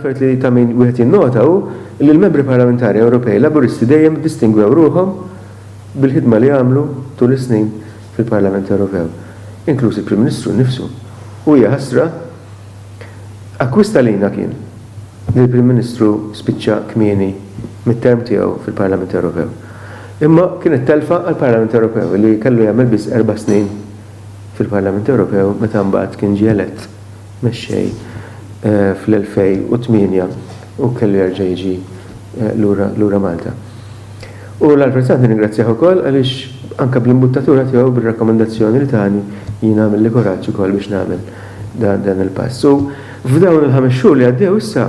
L-affarijiet li ta' min wieħed jinnota hu li l-Membri Parlamentari Ewropej Laburisti dejjem iddistingwew ruħhom bil-ħidma li għamlu tul is-snin fil-Parlament Ewropew, inkluż il-Prim Ministru nnifsu. U hija ħasra, akkwist għalina kien li l-Prim Ministru spiċċa kmieni mit-term tiegħu fil-Parlament Ewropew. Imma kienet telfa għall-Parlament Ewropew li kellu jagħmel biss erba' snin fil-Parlament Ewropew meta mbagħad kien ġie elett mexxej fl-2008 u kellu jerġa' jiġi lura Malta. U l-Għall Prezzant nirringrazzjah ukoll għaliex anke bl-imbuttatura tiegħu bir-rakkomandazzjoni li tani jien għamilli kuraġġ ukoll biex nagħmel dan il-pass. U f'dawn il-ħames xhur li għaddew issa,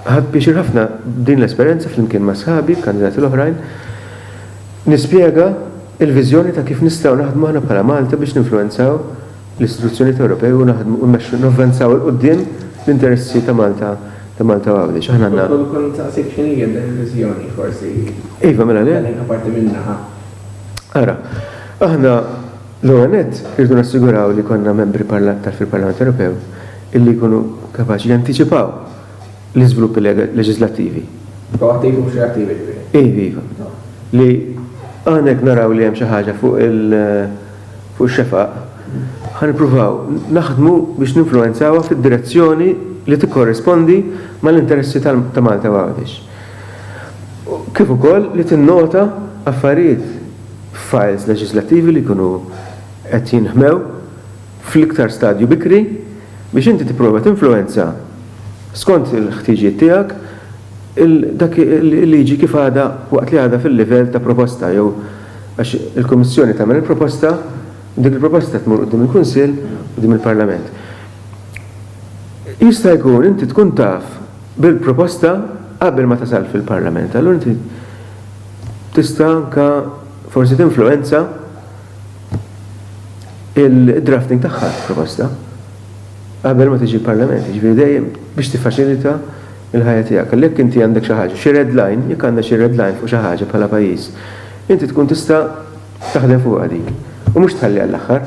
Ħadt pjaċir ħafna b'din l-esperjenza flimkien ma' sħabi, l-kandidati l-oħrajn, nispjega l-viżjoni ta' kif nistgħu naħdmu aħna bħala Malta biex ninfluwenzaw l-istituzzjonijiet Ewropej u naħdmu u mmexxu navvanzaw 'il quddiem l-interessi ta' Malta ta' Malta u Għawdex. Aħna għandna. Kont ukoll insaqsik x'inhi hija din il-viżjoni forsi. Iva, mela le. Tagħtina parti minnha. Ara, aħna. L-ewwel nett, irridu nassiguraw li jkollna membri fil-Parlament Ewropew illi jkunu kapaċi jantiċipaw l-iżviluppi leġiżlattivi. Proattivi mhux reattivi ġifieri. Iva, iva. Li aħna jekk naraw li hemm xi ħaġa fuq ix-xefaq, ħa nippruvaw naħdmu biex ninfluwenzawha fid-direzzjoni li tikkorrispondi mal-interessi ta' Malta u Għawdex. Kif ukoll li tinnota affarijiet f'fajls leġiżlattivi li jkunu qed jinħmew fl-iktar stadju bikri biex inti tipprova tinfluwenza skont il-ħtiġijiet tiegħek dak il-liġi kif għadha waqt li għadha fil-livell ta' proposta jew għax il-Kummissjoni tagħmel il-proposta u dik il-proposta tmur quddiem il-Kunsill u quddiem il-Parlament. Jista' jkun inti tkun taf bil-proposta qabel ma tasal fil-Parlament. Allura inti tista' anke forsi tinfluwenza il-drafting tagħha l-proposta qabel ma tiġi l-Parlament, jiġifieri dejjem biex tiffaċilita l-ħajja tiegħek. Għalhekk jekk inti għandek xi ħaġa, xi red line, jekk għandna xi red line fuq xi ħaġa bħala pajjiż, inti tkun tista' taħdem fuqha din u mhux tħalliha għall-aħħar.